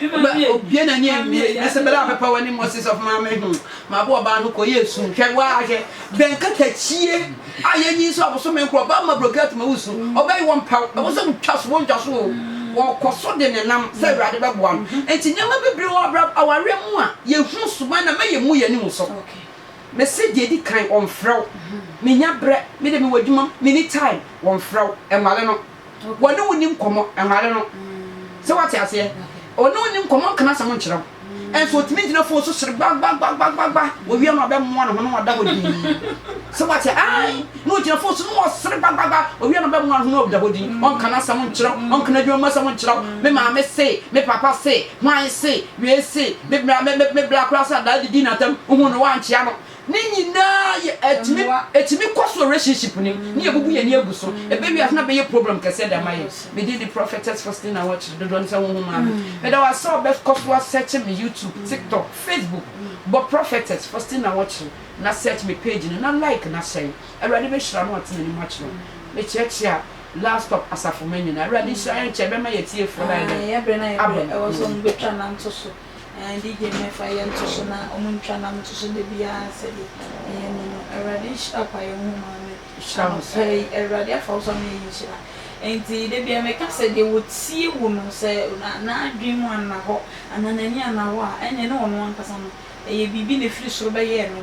Speaker 3: Ɔbɛ obue n'ani anwie na sɛ bɛla ɔpɛpɛ wɔ ne mmɔ se sɔfo maame ho mabo ɔbaa no kɔ yɛ esu nhwɛ wɔ ahwɛ bɛn katakyie a yɛ nyi nso aboso me nkorɔ ɔbaa ma broke atuma wo su ɔbɛ yi wɔ mpaw ɛwɔ sɛ wotwa so wɔ ntwa so o wɔkɔ so de ne nam sɛ awurade bɛ boa no nti nneɛma bebree wɔ abra awareɛ mu a yɛ hu suban na mɛ yɛ mu yɛ anim so me se deɛ di kan wɔn frɛ wo me nya brɛ me de me wɔ adwuma me ni time wɔn frɛ wo ɛnwale no. Wɔne wo nni nkɔmmɔ, nware no. Sɛ woate aseɛ? Ɔne wo nni nkɔmmɔ, ɔnka n'asɛm nkyerɛ wo. Nso ɔtumi gyina fon so sere gbagbagbagbagbagba. Wɔwia no a, ɔbɛmoa ne ho na wada hɔ dinn. Sɛ woate? Ae. Na ɔgyina fon so na ɔsere gbagbagbagba. Ɔwia no a, ɔbɛmoa ne ho na wada hɔ dinn. Ɔnka n'asɛm nkyerɛ wo. Ɔnka n'adwuma mu asɛm nkyerɛ wo. Me maame se, me papa se, hwan se, wei se, me bra, me, me, me bra koraa sɛ adaa didi n'atam. Wohuu no, woankyea no. Ne nyinaa yɛ ɛtumi ɛtumi kɔ so relationship ni ne yɛ bubu yɛn ni egu so ebe wi ase na bɛyɛ problem kɛseɛ de ama yɛn me din de prophetess Faustina Awɔkyere dodoɔ no sɛ ho ho maame meda wasɛ ɔbɛ kɔ so asɛkye me YouTube tiktok Facebook bɔ prophetess Faustina Awɔkyere na search me page no na like na hyɛn awurade bɛ hyira no ɔte n'anim akyerɛ me kyeakyea last stop asafo mɛ nyinaa awurade nhyira yɛn kyɛ bɛma yɛ tie fo na yɛ dɛ abɛ.
Speaker 1: Ɛɛ di gye mmɛfa yɛ nto so na ɔmo ntwa nam nto so da biara sɛdeɛ ɛyɛ ni no. Awurade nhyira kwaeɛ ho maame anɔpa yi. Awurade afa wo so ama yɛn nhyira. Enti da biara meka sɛ deɛ ɔtie wo no sɛ n'adwene mu anna hɔ anaa n'ani anna hɔ a ɛneɛ ne ɔno ankasa no ɛyɛ biribi na ɛfiri soro bɛyɛɛ no.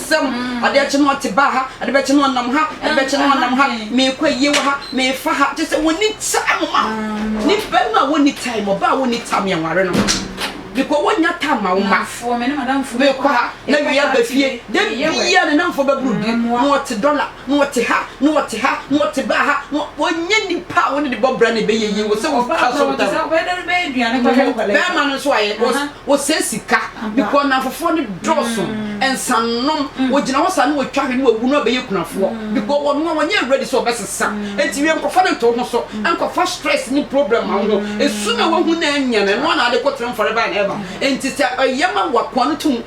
Speaker 3: Sɛm, Adeɛ kye no ɔte baa ha, adeɛ bɛkye no ɔnam ha, adeɛ bɛkye no ɔnam ha, meekɔ ayie wɔ ha, meefa ha, kyerɛ sɛ wɔnni time ma nipa no a wɔnni time, ɔbaa a wɔnni time yɛn ware no, because wɔnnya time ma wo mma, meekɔ
Speaker 1: ha na wei
Speaker 3: aba fie, da biara ne namfoɔ bɛboro bi na ɔte dɔla. na wɔte ha, na wɔte ha, na wɔte baa ha, na wɔnyɛ nipa a wɔde ne bɔ bra na ɛbɛyɛ yie. Wɔ sɛ wɔ twa
Speaker 1: so ntam. Bɛrima no nso ayɛ
Speaker 3: wɔsɛ sika bikɔ nnamfofoɔ no dɔɔso nsanom wɔgyina hɔ saa na wɔtwa hwɛ na wɔwu na wɔbɛyɛ kunafoɔ bikɔ wɔn a wɔnyɛ ready sɛ wɔbɛsesa nti wie nkɔfa no nto ho so nkɔfa stress ne problem ma ho esu na wɔhu na anya na ɛno na ade kɔtena forever and ever nti sɛ ɛyɛ ma wɔakoa no tum